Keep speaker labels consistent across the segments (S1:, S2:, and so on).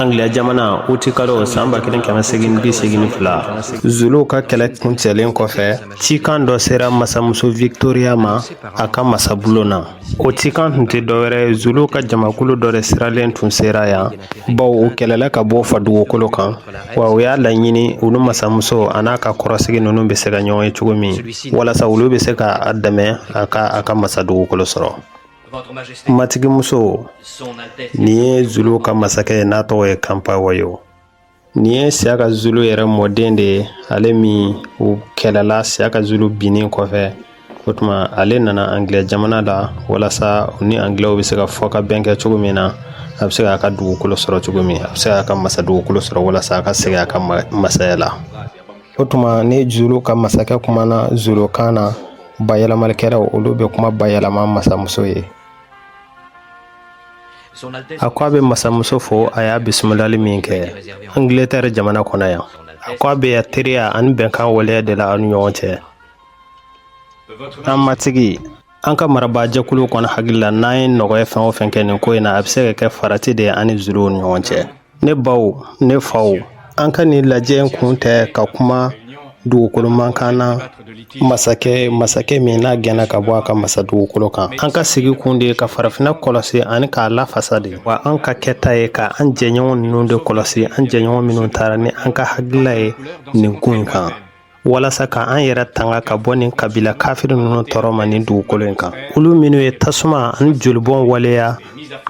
S1: Angilɛ jamana utikalo san ba kelen kɛmɛ segin bi segin fila zuluw ka kɛlɛ kuncɛlen kɔfɛ cikan dɔ sera masamuso victoria ma a ka masabulon na o cikan tun tɛ dɔwɛrɛ zuluw ka jamakulu dɔ de siralen tun sera yan baw u kɛlɛla ka bɔ u fa dugukolo kan wa u y'a laɲini olu masamuso a n'a ka kɔrɔsigi ninnu bɛ se ka ɲɔgɔn ye cogo min walasa olu bɛ se ka a dɛmɛ a ka a ka masa dugukolo sɔrɔ matigimuso nin ye zuluw ka masakɛ ye n'a tɔgɔ ye kanpa wayo nin ye siyaka zulu yɛrɛ mɔden de ye ale min u kɛlɛla siyaka zulu binnen kɔfɛ o tuma ale nana angilɛ jamana la walasa u ni angilɛw bɛ se ka fɔkabɛn kɛ cogo min na a bɛ se k'a ka dugukolo sɔrɔ cogo min a bɛ se k'a ka masa dugukolo sɔrɔ walasa a ka segin a ka masaya la O tuma ni zulu ka masakɛ kumana zulukan na bayɛlɛmalikɛlaw olu bɛ kuma bayɛlɛma masamuso ye a ko a bɛ masamuso fo a y'a bisimilali min kɛ angilɛtɛri jamana kɔnɔ yan a ko a bɛ yan teriya ani bɛnkan waleya de la an ni ɲɔgɔn cɛ an matigi an ka marabaa jɛkulu kɔni hakili la n'an ye nɔgɔya fɛn o fɛn kɛ nin ko in na a bɛ se ka kɛ farati de ye an ni zuluw ni ɲɔgɔn cɛ ne baw ne faw an ka nin lajɛ in kun tɛ ka kuma dugukolo mankan na masakɛ masakɛ min n'a gɛnna ka bɔ a ka masa dugukolo kan an ka sigi kun de ye ka farafinna kɔlɔsi ani k'a lafasa de wa an ka kɛta ye ka an jɛɲɔgɔn ninnu de kɔlɔsi an jɛɲɔgɔn minnu taara ni an ka hakilila ye nin ko in kan walasa ka an yɛrɛ tanga ka bɔ nin kabila kafiri ninnu tɔɔrɔ ma nin dugukolo in kan olu minnu ye tasuma ani jolibɔn waleya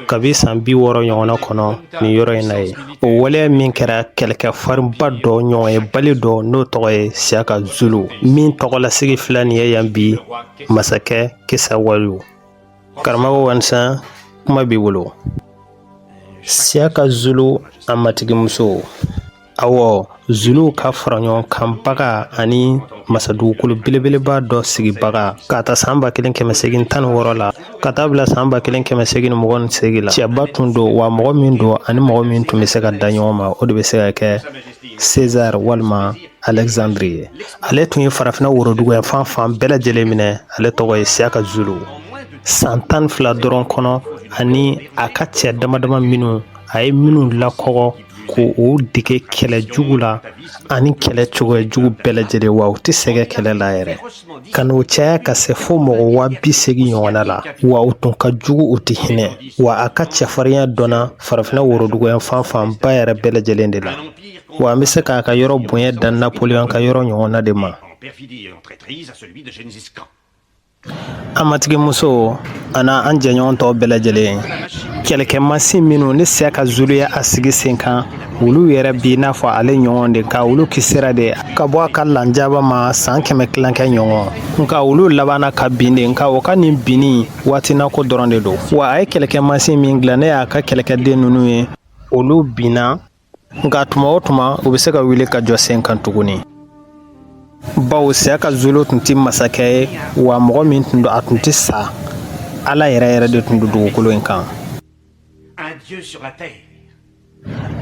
S1: kabi san bi wɔɔrɔ ɲɔgɔnna kɔnɔ nin yɔrɔ in na ye o waleya min kɛra kɛlɛkɛ farinba dɔ ɲɔgɔnyebali dɔ n'o tɔgɔ ye siyaka zulu min tɔgɔlasigi filɛ nin ye yan bi masakɛ kisawayo karamɔgɔ wansan kuma b'i bolo siyaka zulu a matigimuso Ɔwɔ zuluw ka faraɲɔgɔnkanbaga ani masadugukolo belebeleba dɔ sigibaga ka ta san ba kelen kɛmɛ segin tan ni wɔɔrɔ la ka taa bila san ba kelen kɛmɛ segin mugan ni segin la cɛba tun don wa mɔgɔ min don ani mɔgɔ min tun bɛ se ka da ɲɔgɔn ma o de bɛ se ka kɛ sezari walima alɛkizandiri ye ale tun ye farafinna worodugu yanfan bɛɛ lajɛlen minɛ ale tɔgɔ ye siyaka zulu san tan fila dɔrɔn kɔnɔ ani a ka cɛ damadama minnu a ye minnu lakɔ k'u dege kɛlɛ jugu la ani kɛlɛ cogoya jugu bɛɛ lajɛlen wa u tɛ sɛgɛ kɛlɛ la yɛrɛ ka n'u caya ka se fo mɔgɔ waa bi segin ɲɔgɔnna la wa u tun ka jugu u tɛ hinɛ wa a ka cɛfarinya dɔnna farafinna worodugu yanfan fanba yɛrɛ bɛɛ lajɛlen de la wa an bɛ se k'a ka yɔrɔ bonya da napoleon ka yɔrɔ ɲɔgɔnna de ma An matigi muso an'an jɛɲɔgɔn tɔw bɛɛ lajɛlen kɛlɛkɛ masin minnu ni siyaka zulu y'a sigi sen kan olu yɛrɛ b'i n'a fɔ ale ɲɔgɔn de ka olu kisira de ka bɔ a ka lajaba ma san kɛmɛ tilankɛ ɲɔgɔn nka olu labanna ka bin de nka u ka nin binni waatinako dɔrɔn de don wa a ye kɛlɛkɛ masin min dilan n'o y'a ka kɛlɛkɛden ninnu ye olu binna nka tuma o tuma u bɛ se ka wuli ka jɔ sen kan tuguni bawo siyaka zulu tun tɛ masakɛ ye wa mɔgɔ min tun don a tun tɛ sa ala yɛrɛ yɛrɛ de tun don dugukolo in kan un dieu sur la terre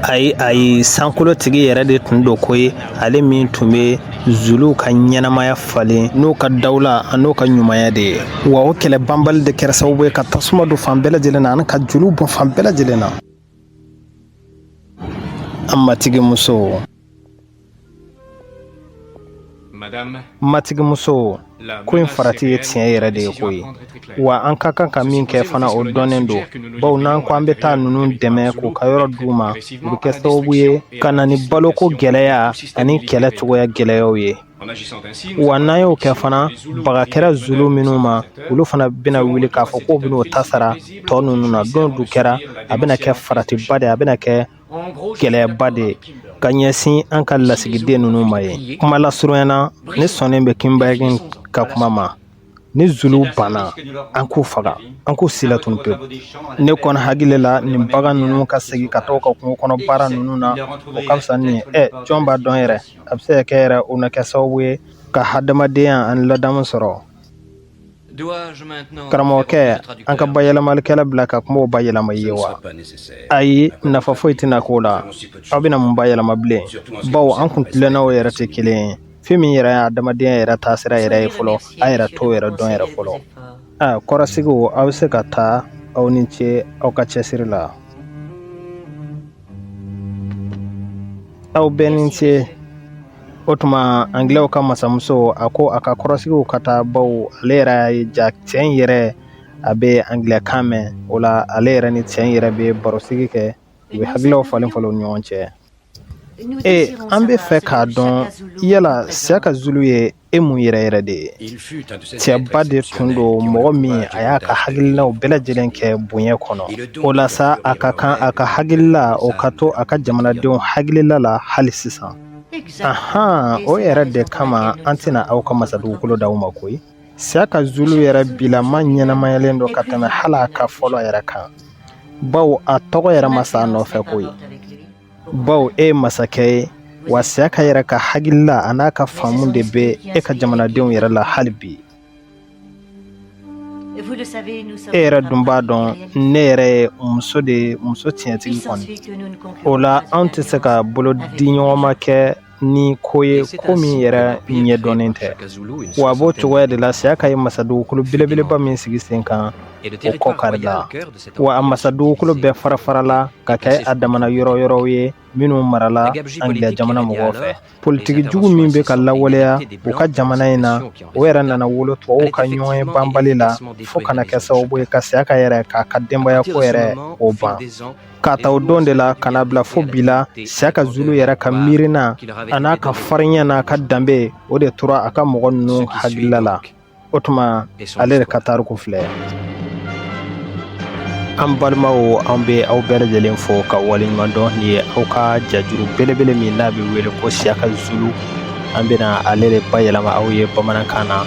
S1: ayi ayi sankolo tigi yɛrɛ de tun don koyi ale min tun bɛ zuluw ka ɲɛnamaya falen n'u ka dawula an'u ka ɲumanya de ye wa o kɛlɛ banbali de kɛra sababu ye ka tasuma don fan bɛɛ lajɛlen na ani ka joliw bɔn fan bɛɛ lajɛlen na An matigi muso matigi muso ko in farati ye tiɲɛ yɛrɛ de ye koyi wa an ka kan ka min kɛ fana o dɔnnen don baw n'an ko an bɛ taa ninnu dɛmɛ k'u ka yɔrɔ d'u ma u bɛ kɛ sababu ye ka na ni baloko gɛlɛya ani kɛlɛ cogoya gɛlɛyaw ye wa n'an y'o kɛ fana baga kɛra zulu minnu ma olu fana bɛna wuli k'a fɔ k'u bɛn'o ta sara tɔ ninnu na don n'o kɛra a bɛna kɛ faratiba de a bɛna kɛ gɛlɛyaba de ka ɲɛsin an ka lasigiden ninnu ma ye kuma lasurunya na ne sɔnnen bɛ Kimberley ka kuma ma ni zuluw banna an k'u faga an k'u silatunun pewu ne kɔni hakili la nin bagan ninnu ka segin ka taa ka kungo kɔnɔ baara ninnu na o ka fisa ni ɛ jɔn b'a dɔn yɛrɛ a bɛ se ka kɛ yɛrɛ o na kɛ sababu ye ka hadamadenya ani ladamu sɔrɔ karamɔgɔkɛ an ka bayɛlɛmalikɛla bila ka kumaw bayɛlɛma ye wa ayi nafa foyi tɛna k'o la aw bɛna mun bayɛlɛma bilen bawo an kuntilennaw yɛrɛ tɛ kelen ye fɛn min yɛrɛ ye adamadenya yɛrɛ taasira yɛrɛ ye fɔlɔ a yɛrɛ t'o yɛrɛ dɔn yɛrɛ fɔlɔ a kɔrɔsigiw aw bɛ se ka taa aw ni ce aw ka cɛsiri la aw bɛɛ ni ce o tuma angilɛw ka masamuso a ko a ka kɔrɔsigiw ka taa baw ale yɛrɛ y'a ye ja cɛ in yɛrɛ a bɛ angilɛkan mɛn o la ale yɛrɛ ni cɛ in yɛrɛ bɛ barosigi kɛ u bɛ hakililaw falen falen u ni ɲɔgɔn cɛ ee an b'a fɛ k'a dɔn yala siyaka zulu ye e mun yɛrɛ yɛrɛ de ye cɛba de tun don mɔgɔ min a y'a ka hakililaw bɛɛ lajɛlen kɛ bonya kɔnɔ o la sa a ka kan a ka hakilila o ka to a ka jamanadenw hakilila la hali sisan ahan o yɛrɛ de kama an tɛna aw ka masadugukolo d'aw ma koyi Siyaka zulu yɛrɛ bilama ɲɛnamayalen don ka tɛmɛ hali a ka fɔlɔ yɛrɛ kan baw a tɔgɔ yɛrɛ ma sa a nɔfɛ koyi baw e ye masakɛ ye wa siyaka yɛrɛ ka hakilila a n'a ka faamu de bɛ e ka jamanadenw yɛrɛ la hali bi e yɛrɛ dun b'a dɔn ne yɛrɛ ye muso de ye muso tiɲɛtigi kɔni o la anw tɛ se ka bolo di ɲɔgɔn ma kɛ ni ko ye ko min yɛrɛ ɲɛ dɔnnen tɛ wa a b'o cogoya de la siyaka ye masadugukolo belebeleba min sigi sen kan o kɔ karila wa a masadugukolo bɛɛ farafarala ka kɛ a damana yɔrɔ yɔrɔw ye minnu marala angilɛ jamana mɔgɔw fɛ politiki jugu min bɛ ka lawaleya u ka jamana in na o yɛrɛ nana wolo tubabuw ka ɲɔgɔn ye banbali la fo ka na kɛ sababu ye ka siyaka yɛrɛ k'a ka denbayako yɛrɛ o ban k'a ta o don de la ka n'a bila fo bi la siyaka zulu yɛrɛ ka miirina a n'a ka farinya n'a ka danbe o de tora a ka mɔgɔ ninnu hakilila la o tuma ale de ka tariku filɛ an balimaw an bɛ aw bɛɛ lajɛlen fo ka waleɲuman dɔn nin ye aw ka jajuru belebele min n'a bɛ wele ko siyaka zulu an bɛna ale de bayɛlɛma aw ye bamanankan na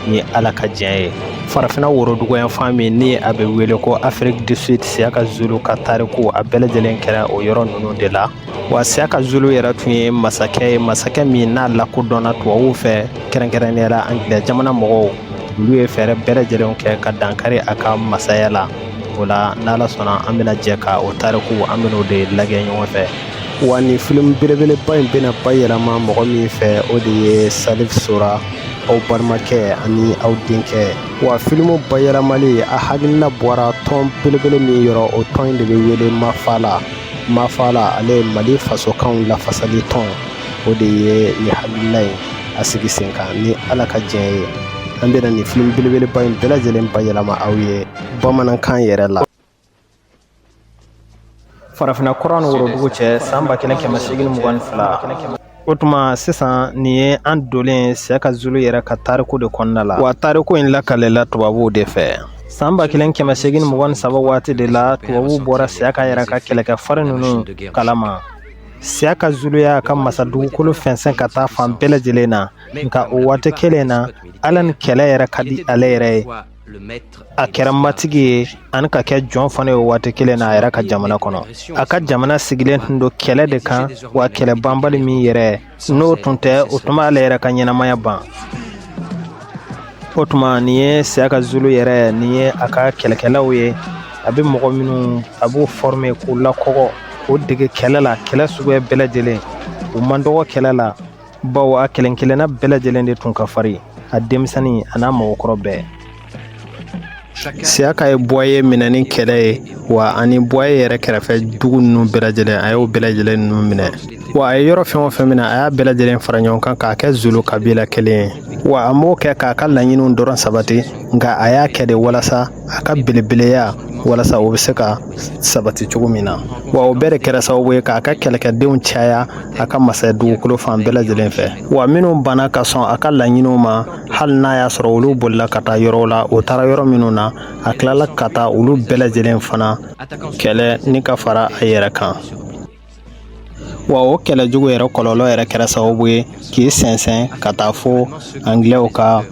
S1: ni ala ka diɲɛ ye farafinna woroduguyanfan min ni a bɛ wele ko afrique du sud siyaka zulu ka tariku a bɛɛ lajɛlen kɛra o yɔrɔ ninnu de la wa siyaka zulu yɛrɛ tun ye masakɛ ye masakɛ min n'a lakodɔnna tubabuw fɛ kɛrɛnkɛrɛnnenya la angilɛ jamana mɔgɔw olu ye fɛɛrɛ bɛɛ lajɛlen kɛ ka dankari a ka masaya la o la n'ala sɔnna an bɛna jɛ ka o tariku an bɛn'o de lagɛ ɲɔgɔn fɛ wa nin filimu belebeleba in bɛna bayɛlɛma mɔgɔ min fɛ o de ye salif sora aw balimakɛ ani aw denkɛ wa filimu bayɛlɛmali a hakilina bɔra tɔn belebele min yɔrɔ o tɔn in de bɛ wele mafala mafala ale ye mali fasokanw lafasali tɔn o de ye nin hakilina in a sigi sen kan ni ala ka diɲɛ ye an bɛna nin filimu belebeleba in bɛɛ lajɛlen bayɛlɛma aw ye bamanankan yɛrɛ la farafinna kɔrɔn ni worodugu cɛ san ba kelen kɛmɛ seegin mugan ni fila o tuma sisan nin ye an donlen siyaka zulu yɛrɛ ka tariku de kɔnɔna la wa tariku in lakalela tubabuw de fɛ san ba kelen kɛmɛ seegin mugan ni saba waati de la tubabuw bɔra siyaka yɛrɛ ka kɛlɛkɛ farin ninnu kalama siyaka zulu y'a ka masadugukolo fɛnsɛn ka taa fan bɛɛ lajɛlen na nka o waati kelen na hali ni kɛlɛ yɛrɛ ka di ale yɛrɛ ye a kɛra matigi ye ani ka kɛ jɔn fana ye waati kelen na a yɛrɛ ka jamana kɔnɔ a ka jamana sigilen tun don kɛlɛ de kan wa kɛlɛ banbali min yɛrɛ n'o tun tɛ o tun b'ale yɛrɛ ka ɲɛnamaya ban o tuma nin ye siyaka zulu yɛrɛ nin ye a ka kɛlɛkɛlaw ye a bɛ mɔgɔ minnu a b'u fɔrime k'u lakɔgɔ k'u dege kɛlɛ la kɛlɛ suguya bɛɛ lajɛlen u man dɔgɔ kɛlɛ la bawo a kelen kelenna bɛɛ lajɛlen de tun ka farin a denmisɛnnin an'a mɔgɔkɔrɔ bɛɛ siyaka ye buwaye minɛ ni kɛlɛ ye wa ani buwaye yɛrɛ kɛrɛfɛ dugu ninnu bɛɛ lajɛlen a y'o bɛɛ lajɛlen ninnu minɛ wa a ye yɔrɔ fɛn o fɛn minɛ a y'a bɛɛ lajɛlen fara ɲɔgɔn kan k'a kɛ zulu kabila kelen ye wa a m'o kɛ k'a ka laɲiniw dɔrɔn sabati nka a y'a kɛ de walasa a ka belebeleya walasa o bɛ se ka sabati cogo min na wa o bɛɛ de kɛra sababu ye k'a ka kɛlɛkɛdenw caya a ka masaya dugukolo fan bɛɛ lajɛlen fɛ wa minnu banna ka sɔn a ka laɲiniw ma hali n'a y'a sɔrɔ olu bolila ka taa yɔrɔw la o taara yɔrɔ minnu na a tilala ka taa olu bɛɛ lajɛlen fana kɛlɛ ni ka fara a yɛrɛ kan wa o kɛlɛ jugu yɛrɛ kɔlɔlɔ yɛrɛ kɛra sababu ye k'i sɛnsɛn ka taa fo angilɛw ka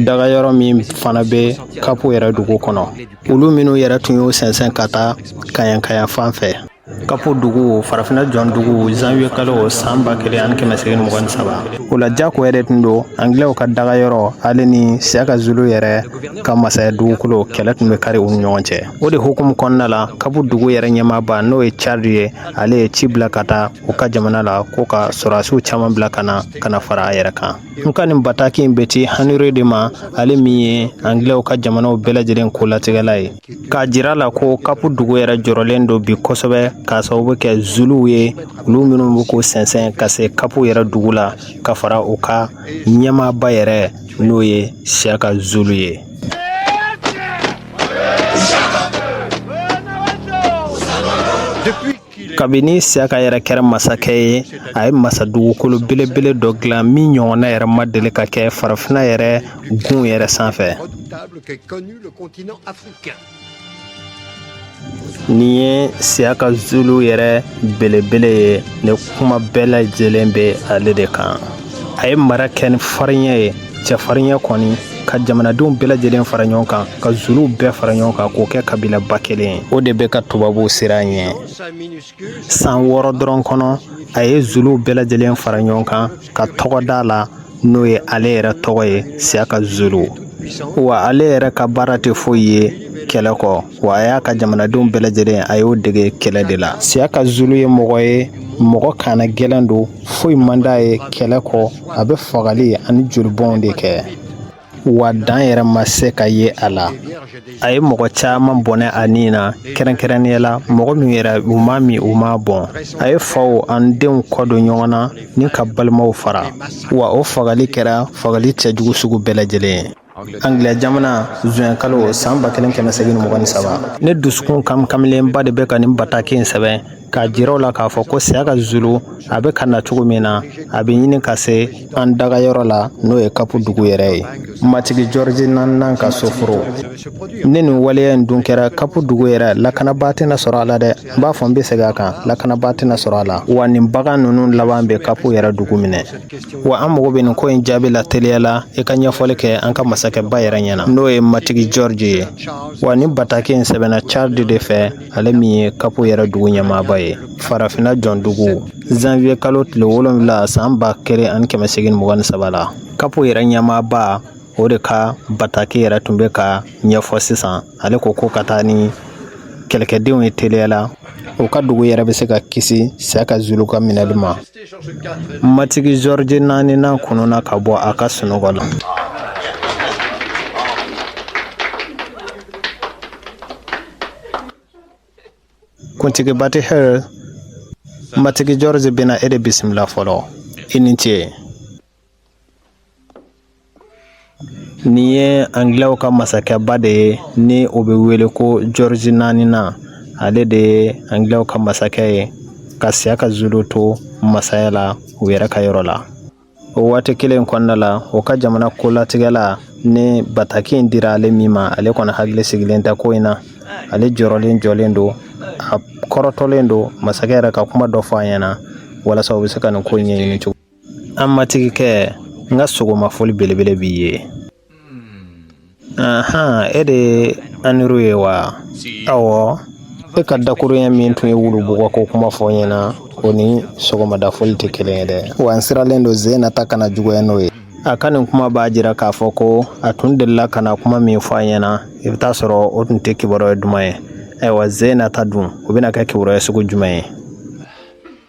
S1: daga yɔrɔ min fana bɛ kapu yɛrɛ dugu kɔnɔ olu minnu yɛrɛ tun y'o sɛnsɛn ka taa kaɲaka yanfan fɛ kapu dugu farafinna jɔn dugu zanwiye kalo san ba kelen ani kɛmɛ segin mugan ni saba o la jako yɛrɛ tun don angilɛw ka daga yɔrɔ ale ni siyaka zulu yɛrɛ ka masaya dugukolo kɛlɛ tun bɛ kari u ni ɲɔgɔn cɛ o de hukumu kɔnɔna la kapu dugu yɛrɛ ɲɛmaaba n'o ye cari ye ale ye ci bila ka taa u ka jamana la ko ka sɔrɔdasiw caman bila ka na ka na fara a yɛrɛ kan nka nin bataki in bɛ ci haniri de ma ale min ye angilɛw ka jamanaw bɛɛ lajɛlen ko latigɛla ye K'a jira la ko kapu dugu yɛrɛ jɔrɔlen don bi kosɛbɛ k'a sababu kɛ zuluw ye olu minnu bɛ k'o sɛnsɛn ka se kapu yɛrɛ dugu la ka fara u ka ɲɛmaaba yɛrɛ n'o ye siyaka zulu ye kabini siyaka yɛrɛ kɛra masakɛ ye a ye masa dugukolo belebele dɔ dilan min ɲɔgɔnna yɛrɛ ma deli ka kɛ farafinna yɛrɛ gun yɛrɛ sanfɛ nin ye siyaka zulu yɛrɛ belebele ye nin kuma bɛɛ lajɛlen bɛ ale de kan a ye mara kɛ ni farinya ye cɛfarinya kɔni ka jamanadenw bɛɛ lajɛlen fara ɲɔgɔn kan ka zuluw bɛɛ fara ɲɔgɔn kan k'o kɛ kabilaba kelen ye o de bɛ ka tubabuw siran ɲɛ san wɔɔrɔ dɔrɔn kɔnɔ a ye zuluw bɛɛ lajɛlen fara ɲɔgɔn kan ka tɔgɔ d'a la n'o ye ale yɛrɛ tɔgɔ ye siyaka zulu wa ale yɛrɛ ka baara tɛ foyi ye kɛlɛ kɔ wa a y'a ka jamanadenw bɛɛ lajɛlen a y'o dege kɛlɛ de la siyaka zulu ye mɔgɔ ye mɔgɔ kannagɛlɛn don foyi man d'a ye kɛlɛ kɔ a bɛ fagali ani jolibɔnw de kɛ wa dan yɛrɛ ma se ka ye a la a ye mɔgɔ caman bɔnɛ a ni na kɛrɛnkɛrɛnnenya la mɔgɔ min yɛrɛ u m'a min u m'a bɔn a ye faw ani denw kɔ don ɲɔgɔn na ni ka balimaw fara wa o fagali kɛra fagali cɛjugu sugu bɛɛ lajɛlen ye Angilɛ jamana zuwɛn kalo san ba kelen kɛmɛ segin mugan ni saba ne dusukun kamikamilenba de bɛ ka nin bataki in sɛbɛn k'a jira aw la k'a fɔ ko Siyaka Zulu a bɛ ka na cogo min na a bɛ ɲini ka se an daga yɔrɔ la n'o ye Kapu dugu yɛrɛ ye matigi Jɔrɔji naani nan ka soforo ni nin waleya in dun kɛra Kapu dugu yɛrɛ lakanabaa tɛna sɔrɔ a la dɛ n b'a fɔ n bɛ segin a kan lakanabaa tɛna sɔrɔ a la wa nin bagan ninnu laban bɛ Kapu yɛrɛ dugu minɛ Wa an mago bɛ nin ko in jaabi la teliya la i ka ɲɛfɔli kɛ an ka masakɛ ba yɛrɛ ɲɛna n'o ye matigi Jɔrɔji ye wa nin bataki in sɛbɛnna Charles de fɛ ale min ye Kapu yɛrɛ dugu ɲɛmaaba ye farafinna jɔndugu zanwiye kalo tile wolonwula san ba kelen ani kɛmɛ segin mugan ni saba la Kapu yɛrɛ ɲɛmaaba o de ka bataki yɛrɛ tun bɛ ka ɲɛfɔ sisan ale ko ko ka taa ni kɛlɛkɛdenw ye teliya la u ka dugu yɛrɛ bɛ se ka kisi Siyaka Zulu ka minɛli ma Matigi George naani nan kununna ka bɔ a ka sunɔgɔ la. Kuntigi Bathurst, Matigi George bɛna e de bisimila fɔlɔ, i ni ce. Nin ye angilɛw ka masakɛba de ye ni o bɛ wele ko Jɔrɔji naani nan ale de ye angilɛw ka masakɛ ye ka Siyaka Zulu to masaya la u yɛrɛ ka yɔrɔ la o waati kelen in kɔnɔna la o ka jamana kolatigɛla ni bataki in dira ale min ma ale kɔni hakili sigilen tɛ ko in na ale jɔrɔlen jɔlen don a kɔrɔtɔlen don masakɛ yɛrɛ ka kuma dɔ fɔ a ɲɛna walasa u bɛ se ka nin ko in ɲɛɲini cogo an matigi kɛ n ka sɔgɔma foli belebele b'i ye ahan e de Henry ye wa ɔwɔ e ka dakurun ɲɛ min tun ye wulu bugɔ ko kuma fɔ n ɲɛna o ni sɔgɔmada foli tɛ kelen ye dɛ wa n siranlen don sen na ta kana juguya n'o ye a ka nin kuma b'a jira k'a fɔ ko a tun delila ka na kuma min fɔ a ɲɛna i bɛ taa sɔrɔ o tun tɛ kibaruya duman ye ayiwa sen na ta dun o bɛna kɛ kibaruya sugu jumɛn ye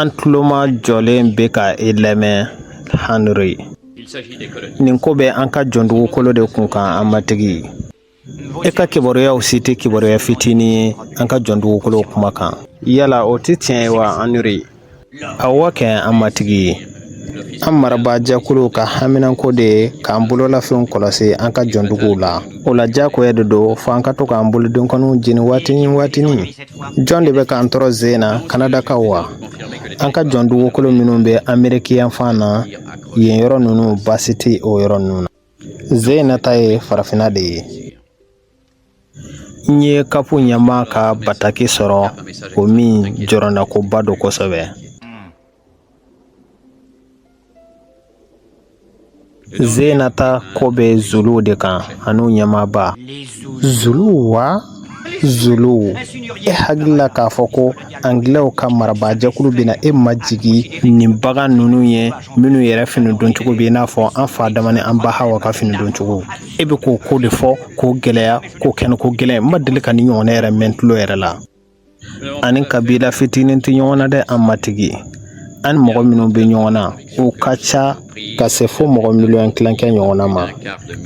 S1: An tuloma jɔlen bɛ ka e lamɛn Henry nin ko bɛ an ka jɔn dugukolo de kun kan an matigi e ka kibaruyaw si tɛ kibaruya fitinin ye an ka jɔn dugukolo kuma kan yala o tɛ tiɲɛ ye wa Henry awɔ kɛ an matigi an marabaajɛkulu ka haminanko de ye k'an bololafɛnw kɔlɔsi an ka jɔnduguw la o la diyagoya de don fo an ka to k'an bolodenkɔniw jeni waati ni waatini jɔn de bɛ k'an tɔɔrɔ sen na kanadakaw wa an ka jɔn dugukolo minnu bɛ Ameriki yanfan na yen yɔrɔ ninnu baasi tɛ o yɔrɔ ninnu na sen in na ta ye farafinna de ye n ye kapu ɲɛmaa ka bataki sɔrɔ o min jɔrɔnakoba don kosɛbɛ zenata ko bɛ zuluw de kan an'u ɲɛmaaba zuluw wa zuluw e hakili la k'a fɔ ko anglɛw ka marabaajɛkulu bɛna e majigin nin bagan ninnu ye minnu yɛrɛ fini doncogo bɛ i n'a fɔ an fa adama ni an ba hawa ka fini doncogo e bɛ k'o ko de fɔ k'o gɛlɛya k'o kɛnɛ ko gɛlɛn n ma deli ka nin ɲɔgɔnna yɛrɛ mɛn tulo yɛrɛ la an ni kabila fitinin tɛ ɲɔgɔn na dɛ an matigi an ni mɔgɔ minnu bɛ ɲɔgɔn na u ka ca ka se fo mɔgɔ miliyɔn tilankɛ ɲɔgɔnna ma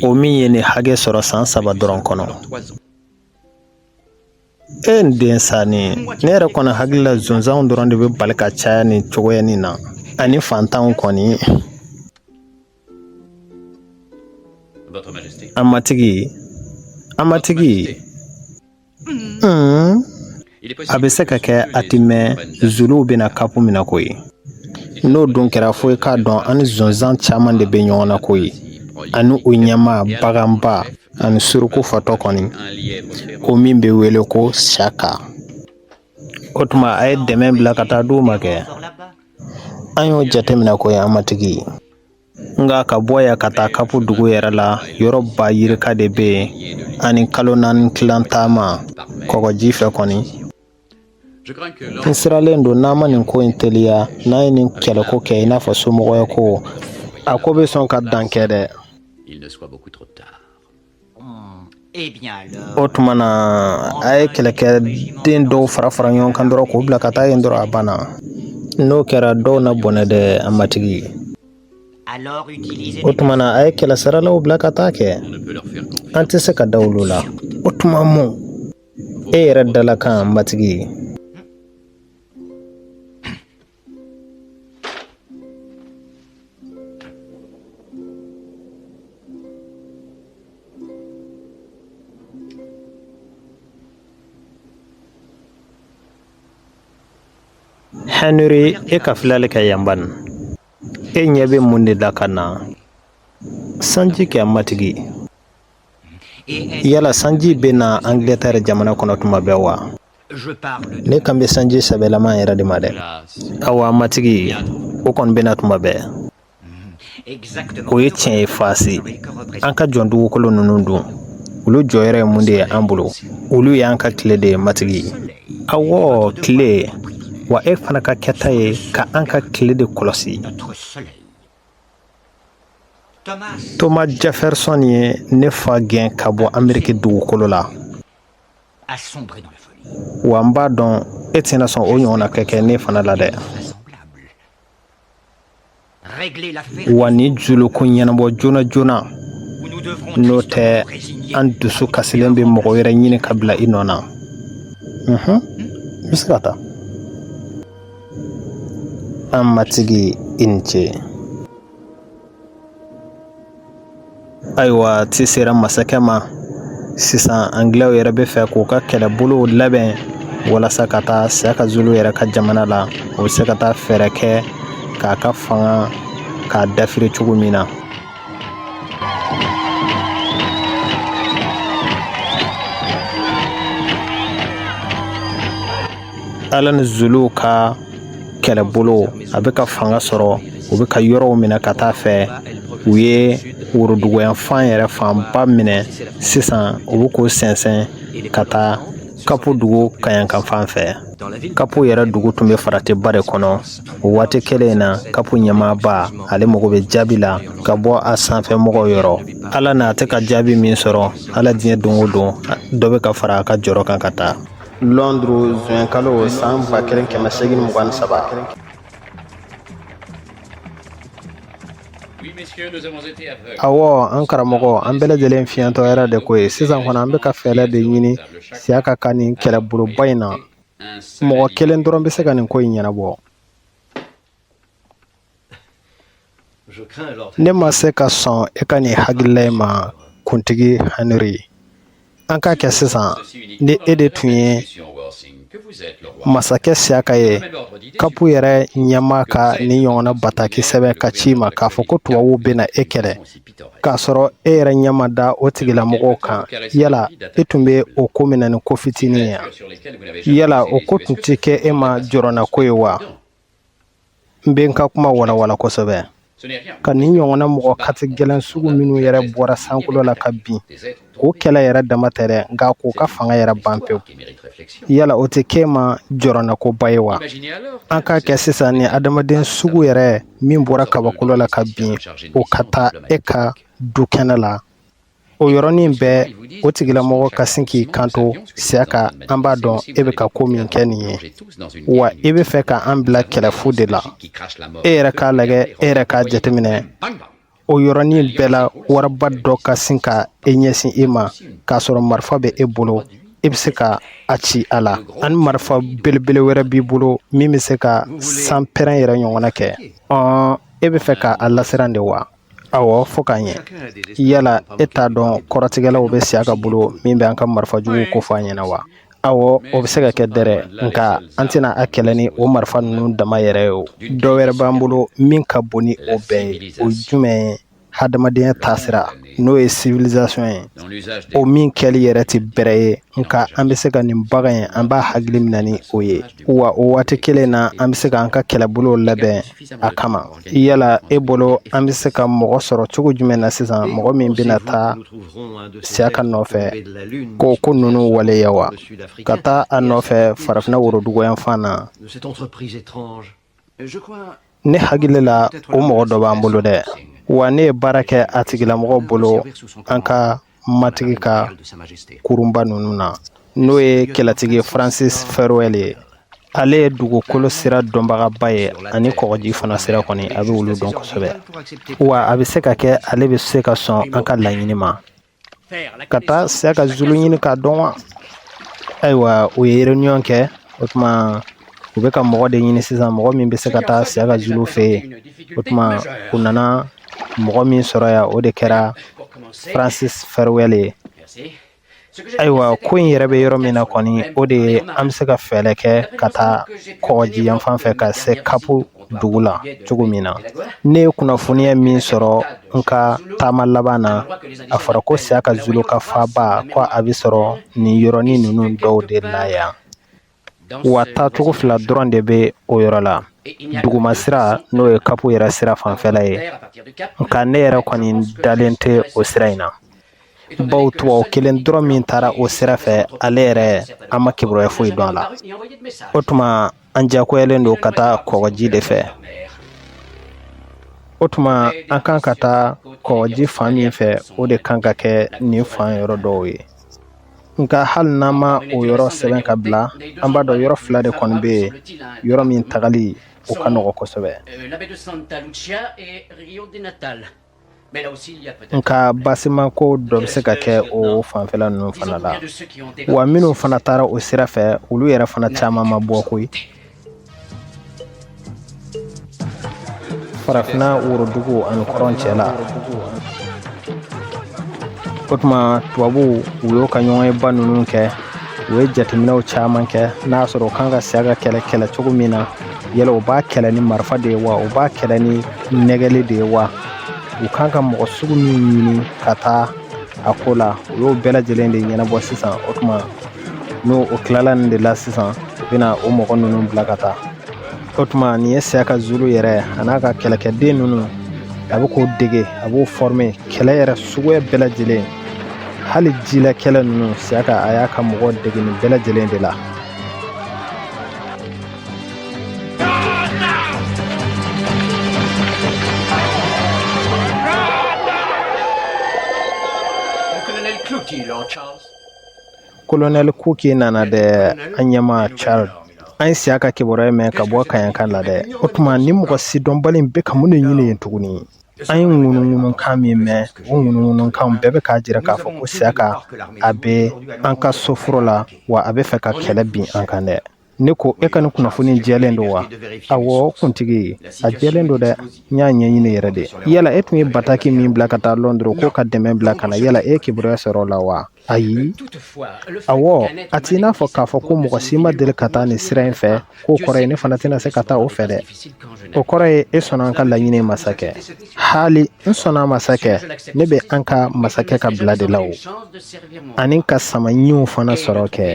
S1: o min ye nin hakɛ sɔrɔ san saba dɔrɔn kɔnɔ e nin den sanni ne yɛrɛ kɔni hakili la zonzanw dɔrɔn de bɛ bali ka caya nin cogoya nin na ani fantanw kɔni An matigi an matigi a bɛ se ka kɛ a tɛ mɛn zuluw bɛna kapu minɛ koyi n'o dun kɛra fo i k'a dɔn an ni zonzan caman de bɛ ɲɔgɔn na koyi ani u ɲɛmaa baganba ani suruku fatɔ kɔni o min bɛ wele ko saka o tuma a ye dɛmɛ bila ka taa d'u ma kɛ an y'o jateminɛ koyi an matigi nka ka bɔ yan ka taa kapu dugu yɛrɛ la yɔrɔ ba yirika de bɛ yen ani kalo naani tilan taama kɔgɔji fɛ kɔni n siralen don n'an ma nin ko in teliya n'an ye nin kɛlɛko kɛ i n'a fɔ somɔgɔya ko a ko bɛ sɔn ka dan kɛ dɛ O tuma na a ye kɛlɛkɛden dɔw fara fara ɲɔgɔn kan dɔrɔn k'u bila ka taa yen dɔrɔn a banna n'o kɛra dɔw na bɔnɛ dɛ an matigi o tuma na a ye kɛlɛsaralaw bila ka taa kɛ an tɛ se ka da olu la o tuma mun e yɛrɛ dalakan an matigi Hɛnri i ka filɛli kɛ yan ban e ɲɛ bɛ mun de la ka na sanji kɛ matigi yala sanji bɛ na anglɛtɛri jamana kɔnɔ tuma bɛɛ wa ne kan bɛ sanji sɛbɛlama yɛrɛ de ma dɛ awa an matigi o kɔni bɛna tuma bɛɛ o ye tiɲɛ ye faasi an ka jɔn dugukolo ninnu dun olu jɔyɔrɔ ye mun de ye an bolo olu y'an ka tile de ye matigi awɔ tile wa e fana ka kɛta ye ka an ka tile de kɔlɔsi thomas jefferson ye ne fa gɛn ka bɔ ameriki dugukolo la A sombrer dans la folie. Wa n b'a dɔn e tɛna sɔn o ɲɔgɔnna ka kɛ ne fana la dɛ. Régler l'affaire. Wa nin Zulu ko ɲɛnabɔ joona joona. N'o tɛ an dusu kasilen bɛ mɔgɔ wɛrɛ ɲini ka bila i nɔ na. Unhun. N bɛ se ka taa. An matigi i ni ce. ayiwa ci sera masakɛ ma sisan angilɛw yɛrɛ bɛ fɛ k'u ka kɛlɛbolow labɛn walasa ka taa siyaka zulu yɛrɛ ka jamana la u bɛ se ka taa fɛɛrɛ kɛ k'a ka fanga k'a dafiri cogo min na ala ni zuluw ka kɛlɛbolo a bɛ ka fanga sɔrɔ u bɛ ka yɔrɔw minɛ ka taa fɛ u ye woroduguyanfan yɛrɛ fanba minɛ sisan u bɛ k'u sɛnsɛn ka taa kapu dugu kaɲakan fan fɛ kapu yɛrɛ dugu tun bɛ faratiba de kɔnɔ o waati kelen in na kapu ɲɛmaaba ale mago bɛ jaabi la ka bɔ a sanfɛ mɔgɔw yɔrɔ ala n'a tɛ ka jaabi min sɔrɔ ala diɲɛ don o don dɔ bɛ ka fara a ka jɔrɔ kan ka taa lɔnduru zuwɛn kalo san ba kelen kɛmɛ segin mugan ni saba awɔ an karamɔgɔ an bɛɛ lajɛlen fiɲɛtɔ yɛrɛ de ko ye sisan kɔni an bɛ ka fɛɛrɛ de ɲini siyaka ka nin kɛlɛboloba in na mɔgɔ kelen dɔrɔn bɛ se ka nin ko in ɲɛnabɔ Ne ma se ka sɔn e ka nin hakilila in ma kuntigi Henry an k'a kɛ sisan ni e de tun ye masakɛ siyaka ye kapu yɛrɛ ɲɛmaa ka nin ɲɔgɔnna bataki sɛbɛn ka ci i ma k'a fɔ ko tubabuw bɛna e kɛlɛ k'a sɔrɔ e yɛrɛ ɲɛ ma da o tigilamɔgɔw kan yala e tun bɛ o ko mina ni ko fitinin ye yala o ko tun tɛ kɛ e ma jɔrɔnako ye wa n bɛ n ka kuma walawala kosɛbɛ ka nin ɲɔgɔnna mɔgɔ katigɛlɛn sugu minnu yɛrɛ bɔra sankolo la ka bin k'o kɛlɛ yɛrɛ dama tɛ dɛ nka k'o ka fanga yɛrɛ ban pewu yala o tɛ kɛ i ma jɔrɔnakoba ye wa an k'a kɛ sisan ni adamaden sugu yɛrɛ min bɔra kabakolo la ka bin o ka taa e ka dukɛnɛ la o yɔrɔnin bɛɛ o tigilamɔgɔ ka sin k'i kanto siaka an b'a dɔn e bɛ ka ko min kɛ nin ye wa e bɛ fɛ ka an bila kɛlɛfu de la e yɛrɛ k'a lajɛ e yɛrɛ k'a jateminɛ o yɔrɔnin bɛɛ la waraba dɔ ka sin ka e ɲɛsin e ma k'a sɔrɔ marifa bɛ e bolo e bɛ se ka a ci a la ani marifa belebele wɛrɛ b'i bolo min bɛ se ka sanpɛrɛn yɛrɛ ɲɔgɔnna kɛ e bɛ fɛ ka a lasiran de wa awɔ fo k'a ɲɛ yala e t'a dɔn kɔrɔtigɛlaw bɛ siaka bolo min bɛ an ka marifa juguw ko fɔ an ɲɛna wa awɔ o bɛ se ka kɛ dɛrɛ nka an tɛna a kɛlɛ ni o marifa ninnu dama yɛrɛ ye o dɔ wɛrɛ b'an bolo min ka bon ni o bɛɛ ye o jumɛn ye hadamadenya taasira n'o ye civilisation ye o min kɛli yɛrɛ tɛ bɛrɛ ye nka an bɛ se ka nin bagan in an b'a hakili minɛ ni o ye wa o waati kelen na an bɛ se k'an ka kɛlɛbolow labɛn a kama yala e bolo an bɛ se ka mɔgɔ sɔrɔ cogo jumɛn na sisan mɔgɔ min bɛna taa siaka nɔfɛ k'o ko ninnu waleya wa ka taa a nɔfɛ farafinna worodugu yan fan na ne hakili la o mɔgɔ dɔ b'an bolo dɛ wa ne ye baara kɛ a tigilamɔgɔ bolo an ka matigi ka kurunba ninnu na n'o ye kɛlɛtigi francis ferwell ye ale ye dugukolo sira dɔnbagaba ye ani kɔgɔji fana sira kɔni a bɛ olu dɔn kosɛbɛ wa a bɛ se ka kɛ ale bɛ se ka sɔn an ka laɲini ma ka taa siaka zulu ɲini k'a dɔn wa ayiwa u ye réunion kɛ o tuma u bɛ ka mɔgɔ de ɲini sisan mɔgɔ min bɛ se ka taa siaka zulu fɛ yen o tuma u nana mɔgɔ min sɔrɔ yan o de kɛra francis ferwell ye ayiwa ko in yɛrɛ bɛ yɔrɔ min na kɔni o de ye an bɛ se ka fɛɛrɛ kɛ ka taa kɔgɔji yan fan fɛ ka se kapu dugu la cogo min na ne ye kunnafoniya min sɔrɔ n ka taama laban na a fɔra ko siaka zulu ka faaba ko a bɛ sɔrɔ nin yɔrɔnin ninnu dɔw de la yan wa taacogo fila dɔrɔn de bɛ o yɔrɔ la duguma sira n'o ye kapu yɛrɛ sira fanfɛla ye nka ne yɛrɛ kɔni dalen tɛ o sira in na bawo tubabu kelen dɔrɔn min taara o sira fɛ ale yɛrɛ an ma kibaruya foyi dɔn a la o tuma an diyagoyalen don ka taa kɔgɔji de fɛ o tuma an kan ka taa kɔgɔji fan min fɛ o de kan ka kɛ nin fan yɔrɔ dɔw ye nka hali n'an ma o yɔrɔ sɛbɛn ka bila an b'a dɔn yɔrɔ fila de kɔni bɛ yen yɔrɔ min tagali o ka nɔgɔ kosɛbɛ nka basima ko dɔ bɛ se ka kɛ o fanfɛla ninnu fana la wa minnu fana taara o sira fɛ olu yɛrɛ fana caman ma bɔ koyi farafinna worodugu ani kɔrɔn cɛ la o tuma tubabuw u y'u ka ɲɔgɔnyeba ninnu kɛ u ye jateminɛw caman kɛ n'a sɔrɔ u kan ka siyaka kɛlɛ kɛlɛ cogo min na yala u b'a kɛlɛ ni marifa de ye wa u b'a kɛlɛ ni nɛgɛli de ye wa u kan ka mɔgɔ sugu min ɲini ka taa a ko la u y'o bɛɛ lajɛlen de ɲɛnabɔ sisan o tuma n'o o tilala nin de la sisan u bɛna o mɔgɔ ninnu bila ka taa o tuma nin ye siyaka zulu yɛrɛ a n'a ka kɛlɛkɛden ninnu a bɛ k'o dege a b'o fɔrime kɛlɛ yɛrɛ suguya bɛɛ lajɛlen hali jila kɛlɛ ninnu siyaka a y'a ka mɔgɔw dege nin bɛɛ lajɛlen de la kolonɛli kuki nana dɛ an ɲɛmaa charles an ye siyaka kibaruya mɛn ka bɔ kaɲaka la dɛ o tuma nin mɔgɔ sidɔnbali bɛ ka mun de ɲini yen tuguni an ye ŋunuŋunukan min mɛn o ŋunuŋunukan bɛɛ bɛ k'a jira k'a fɔ ko siyaka a bɛ an ka soforo la wa a bɛ fɛ ka kɛlɛ bin an kan dɛ ne ko e ka nin kunnafoni jɛlen don wa awɔ kuntigi a jɛlen don dɛ n y'a ɲɛɲini yɛrɛ de yala e tun ye bataki min bila ka taa lɔndɔrɔ ko ka dɛmɛ bila ka na yala e ye kibaruya sɔrɔ o la wa ayi awɔ a t'i n'a fɔ k'a fɔ ko mɔgɔ si ma deli ka taa nin sira in fɛ k'o kɔrɔ ye ne fana tɛna se ka taa o fɛ dɛ o kɔrɔ ye e sɔnna an ka laɲini ma sa kɛ haali n sɔnna a ma sa kɛ ne bɛ an ka masakɛ ka bila de la o ani ka sama ɲinw fana sɔrɔ kɛ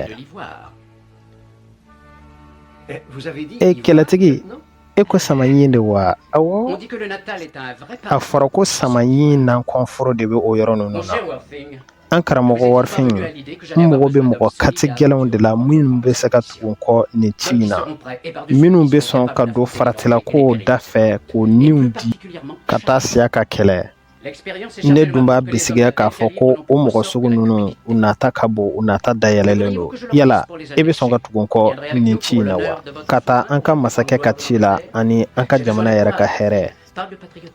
S1: Eh, e kɛlɛtigi e ko sama ɲin de wa a fɔra ko sama ɲin nankɔnforo de bɛ o yɔrɔ ninnu na an karamɔgɔ warifin n mago bɛ mɔgɔ kati gɛlɛnw de la minnu bɛ se ka tugu n kɔ nin ci in na minnu bɛ sɔn ka don faratila ko da fɛ k'u niw di ka taa siyaka kɛlɛ ne dun b'a bisigiya k'a fɔ ko o mɔgɔ sugu ninnu u nata ka bon u nata dayɛlɛnlen don yala e bɛ sɔn ka tugu n kɔ nin ci in na wa ka taa an ka masakɛ ka ci la ani an ka jamana yɛrɛ ka hɛrɛ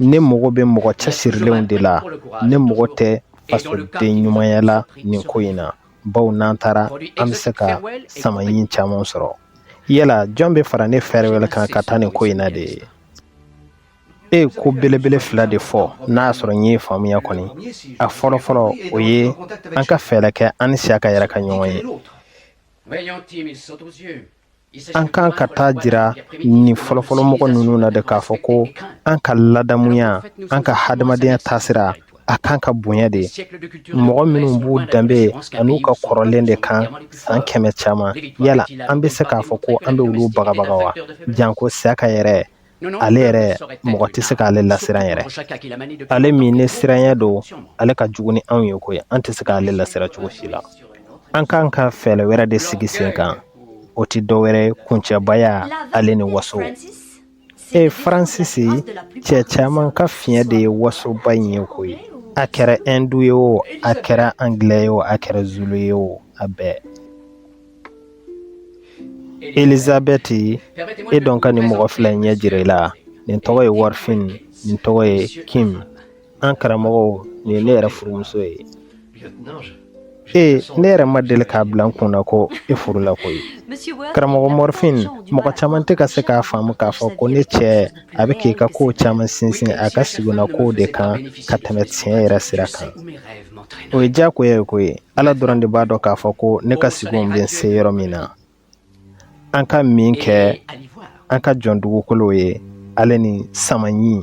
S1: ne mago bɛ mɔgɔ cɛsirilenw de la ne mago tɛ fasoden ɲumanya la nin ko in na baw n'an taara an bɛ se ka sama ɲin caman sɔrɔ yala jɔn bɛ fara ne farewell kan ka taa nin ko in na de ye e ye ko belebele fila de fɔ n'a y'a sɔrɔ n y'i faamuya kɔni a fɔlɔ fɔlɔ o ye an ka fɛɛrɛ kɛ an ni siyaka yɛrɛ ka ɲɔgɔn ye an kan ka taa jira nin fɔlɔfɔlɔ mɔgɔ ninnu na de k'a fɔ ko an ka ladamuya an ka hadamadenya taasira a kan ka bonya de mɔgɔ minnu b'u danbe an'u ka kɔrɔlen de kan san kɛmɛ caman yala an bɛ se k'a fɔ ko an bɛ olu bagabaga wa janko siyaka yɛrɛ ale yɛrɛ mɔgɔ tɛ se k'ale lasiran yɛrɛ ale min ne siranya don ale ka jugu ni anw ye koyi an tɛ se k'ale lasiran cogo si la an kan ka fɛɛrɛ wɛrɛ de sigi sen kan o tɛ dɔ wɛrɛ kuncɛbaya ale ni waso e faransisi cɛ caman ka fiɲɛ de ye wasoba in ye koyi a kɛra hindu ye o a kɛra angilɛ ye o a kɛra zulu ye o a bɛɛ elizabɛti i jɔ n ka nin mɔgɔ fila ɲɛ jira i la nin tɔgɔ ye warifin nin tɔgɔ ye kim an karamɔgɔw nin ye ne yɛrɛ furumuso ye ee ne yɛrɛ ma deli k'a bila n kun na ko e furula koyi karamɔgɔ mɔrifin mɔgɔ caman tɛ ka se k'a faamu k'a fɔ ko ne cɛ a bɛ k'i ka kow caman sinsin a ka sigona kow de kan ka tɛmɛ tiɲɛ yɛrɛ sira kan o ye diyagoya ye koyi ala dɔrɔn de b'a dɔn k'a fɔ ko ne ka sigow bɛ n se yɔrɔ min na an ka min kɛ an ka jɔn dugukolo ye ale ni samaɲin